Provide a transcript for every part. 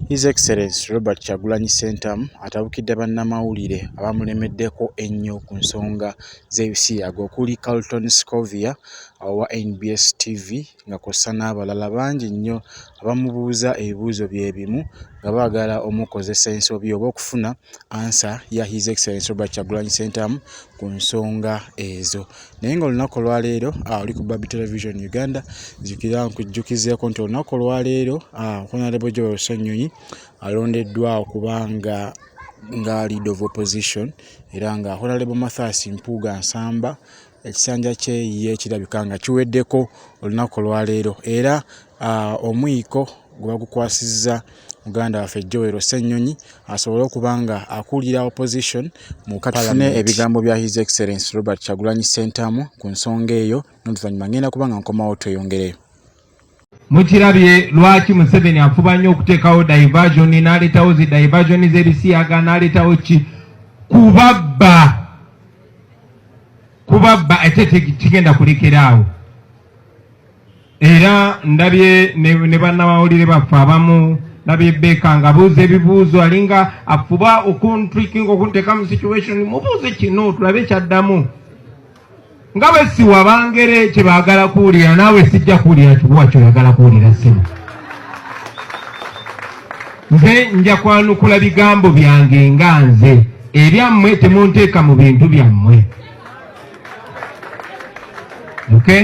His Excellency Robert Kyagulanyi Ssentamu atabukidde bannamawulire abamulemeddeko ennyo ku nsonga z'ebisiyaga okuli Carlton Scovia owa nbs TV nga kw'ossa n'abalala bangi nnyo abamubuuza ebibuuzo bye bimu nga baagala omukozesa ensobi oba okufuna ansa ya His Excellency Robert Kyagulanyi Ssentamu ku nsonga ezo naye nga olunaku olwaleero ah, oli ku babi television uganda zikira nkujjukizeeko nti olunaku olwaleero ah, honarebo joel sanyonyi alondeddwa okubanga nga lead of opposition era nga honarebo mathas mpuuga nsamba ekisanja kye ye kirabika nga kiweddeko olunaku olwaleero era uh, omwiko gwe bagukwasizza muganda waffe joel ssennyonyi asobole okuba nga akulira opposition mukatufune ebigambo bya his excellence robert kyagulanyi sentamu ku nsonga eyo noluvannyuma ngenda kuba nga nkomawo tweyongereyo mukirabye lwaki museveni afuba nnyo okuteekawo diversion naleetawo zi diversion z'ebisiyaga naleetawo ki kubabba kubabba ate kigenda kulekera awo era ndabye ne, ne bannamawulire baffe abamu ndabye beka nga buuza ebibuuzo alinga afuba okuntrikinga okunteeka mu situation mubuuze kino tulabe kyaddamu nga bwe siwa bangere kye baagala kuwulira naawe sijja kuwulira kibuwa kyoyagala kuwulira simu nze nja kwanukula bigambo byange nga nze ebyammwe temunteeka mu bintu byammwe okay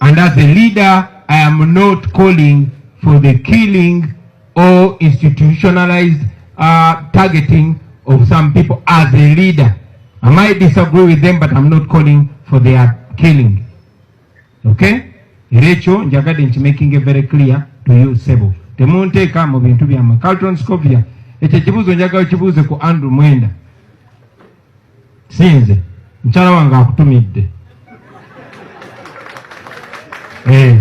And as a leader, I am not calling for the killing or institutionalized uh, targeting of some people as a leader. I might disagree with them, but I'm not calling for their killing. Okay? era ekyo njagadde nti making it very clear to you sebo temunteeka mu bintu byammwe calton scovia ekyo ekibuuzo njagala kibuuze ku andrew mwenda sinze mukyala wange akutumidde eh,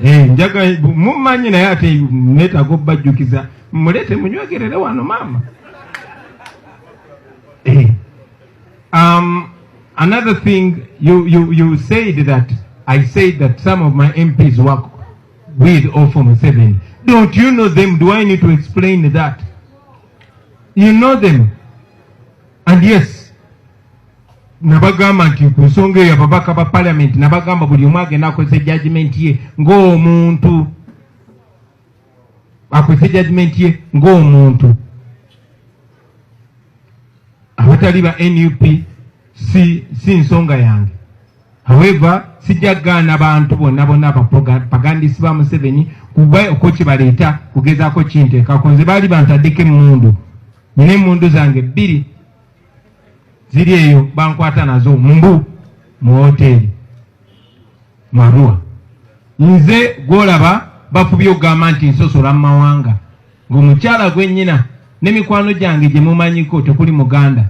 eh, njaga mumanyi naye ate netaga obajjukiza mulete munywegerere wano maama eh, um, another thing you, you, you said that i said that some of my mps work with or for museveni don't you know them do i need to explain that You know them. And yes, nabagamba nti ku nsonga eyo ababaka ba parliament nabagamba buli omu agenda akozesa judgment ye ng'omuntu akozesa judgment ye ng'omuntu abatali ba nup si, si nsonga yange However, sijja gaana bantu bonna bonna abapagandisi ba Museveni kuba okwo kibaleeta kugezaako kinteekako nze baali bantaddeko emmundu nina emmundu zange bbiri ziri eyo bankwata nazo mbu mu woteeri marua nze gwolaba bafubye okugamba nti nsosola mu mawanga ng'omukyala gwennyina ne mikwano gyange gye mumanyiko tekuli muganda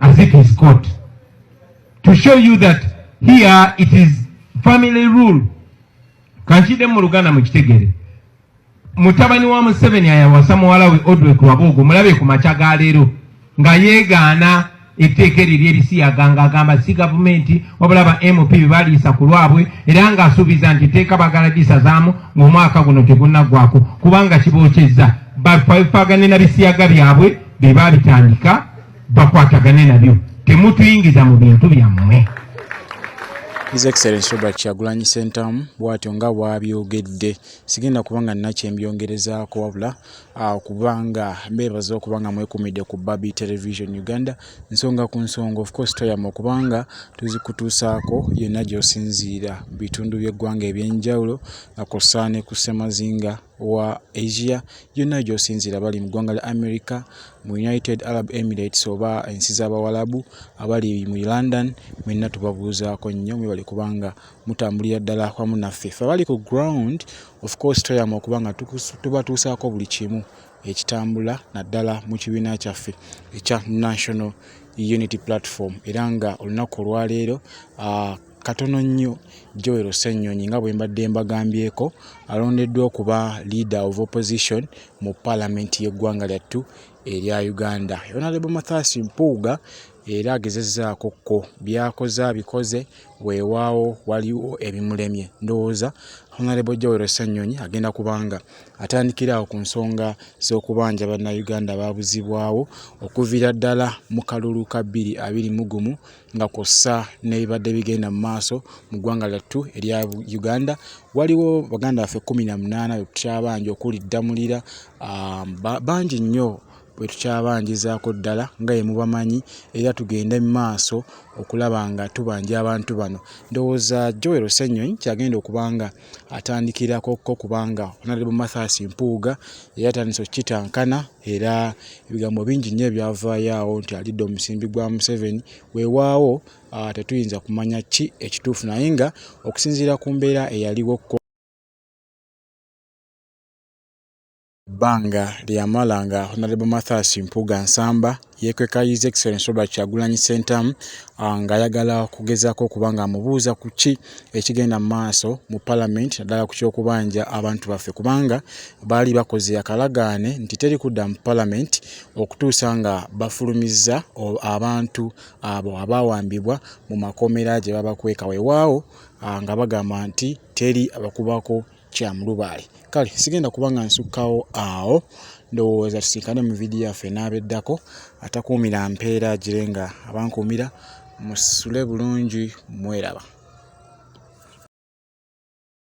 as if he's caught to show you that here it is family rule kankide mu luganda mukitegere mutabani wa museveni ayawasa muwala we odwe kuwabuugu mulabe ku makya ga leero nga yeegaana etteeka eryo lyerisiyaga nga agamba si gavumenti wabula ba mp bebaliisa ku lwabwe era ng'asuubiza nti etteeka bagala lisazaamu ng'omwaka guno tegunaggwako kubanga kibookyezza bafaagane na bisiyaga byabwe be baabitandika bakwatagane nabyo temutuyingiza mu bintu byammwe His Excellency Robert Kyagulanyi Ssentamu bw'atyo nga bw'abyogedde sigenda kuba nga nina kyembyongerezaako wabula ah, okuba nga mbeebaza okuba nga mwekumidde ku Babi Television Uganda nsonga ku nsonga of course toyama okuba nga tuzikutuusaako yonna gy'osinziira mu bitundu by'eggwanga eby'enjawulo nga kw'ossa ne ku ssemazinga wa Asia yonna gy'osinziira abali mu ggwanga lya America, mu United Arab Emirates oba ensi z'Abawalabu, abali mu London mwenna tubabuuzaako nnyo mwebale kubanga mutambulira ddala wamu naffe. Ffe abali ku ground of course tweyama okuba nga tubatuusaako buli kimu ekitambula naddala mu kibiina kyaffe ekya National Unity Platform era nga olunaku olwaleero ah, Katono nnyo Joel Ssenyonyi nga bwe mbadde mbagambyeko alondeddwa okuba leader of opposition mu palamenti y'eggwanga lyattu erya Uganda. Honorable Mathias Mpuuga era agezezaako ko byakoze abikoze weewaawo waliwo ebimulemye ndowooza Honorable Joel Ssenyonyi agenda kubanga atandikiraawo ku nsonga z'okubanja bannayuganda baabuzibwawo okuviira ddala mu kalulu ka bbiri abiri mu gumu nga kw'ossa n'ebibadde bigenda mu maaso mu ggwanga lyattu erya Uganda. Waliwo baganda baffe kkumi na munaana be tukyabanja okuli Ddamulira, ah, bangi nnyo bwe tukyabanjizaako ddala nga ye mubamanyi era tugende mu maaso okulaba nga tubanja abantu bano. Ndowooza Joel Ssenyonyi ky'agenda okuba nga atandikirako ko kubanga Honorable Mathias Mpuuga yatandise okukitankana era ebigambo bingi nnyo ebyavaayo awo nti alidde omusimbi gwa Museveni weewaawo ah, tetuyinza kumanya ki ekituufu naye nga okusinziira ku mbeera eyaliwo Ebbanga lye yamala nga Honorable Mathias Mpuuga Nsamba yeekweka His Excellency Robert Kyagulanyi Ssentamu ng'ayagala okugezaako okuba ng'amubuuza ku ki ekigenda mu maaso mu palamenti naddala ku ky'okubanja abantu baffe kubanga baali bakoze akalagaane nti teri kudda mu palamenti okutuusa nga bafulumizza abantu abo abaawambibwa mu makomera gye babakweka weewaawo nga bagamba nti teri abakubako kya mulubaale kale sigenda kuba nga nsukkawo awo ndowooza tusinkane mu vidiyo yaffe n'abeddako atakuumira mpeera agire nga abankuumira musule bulungi mweraba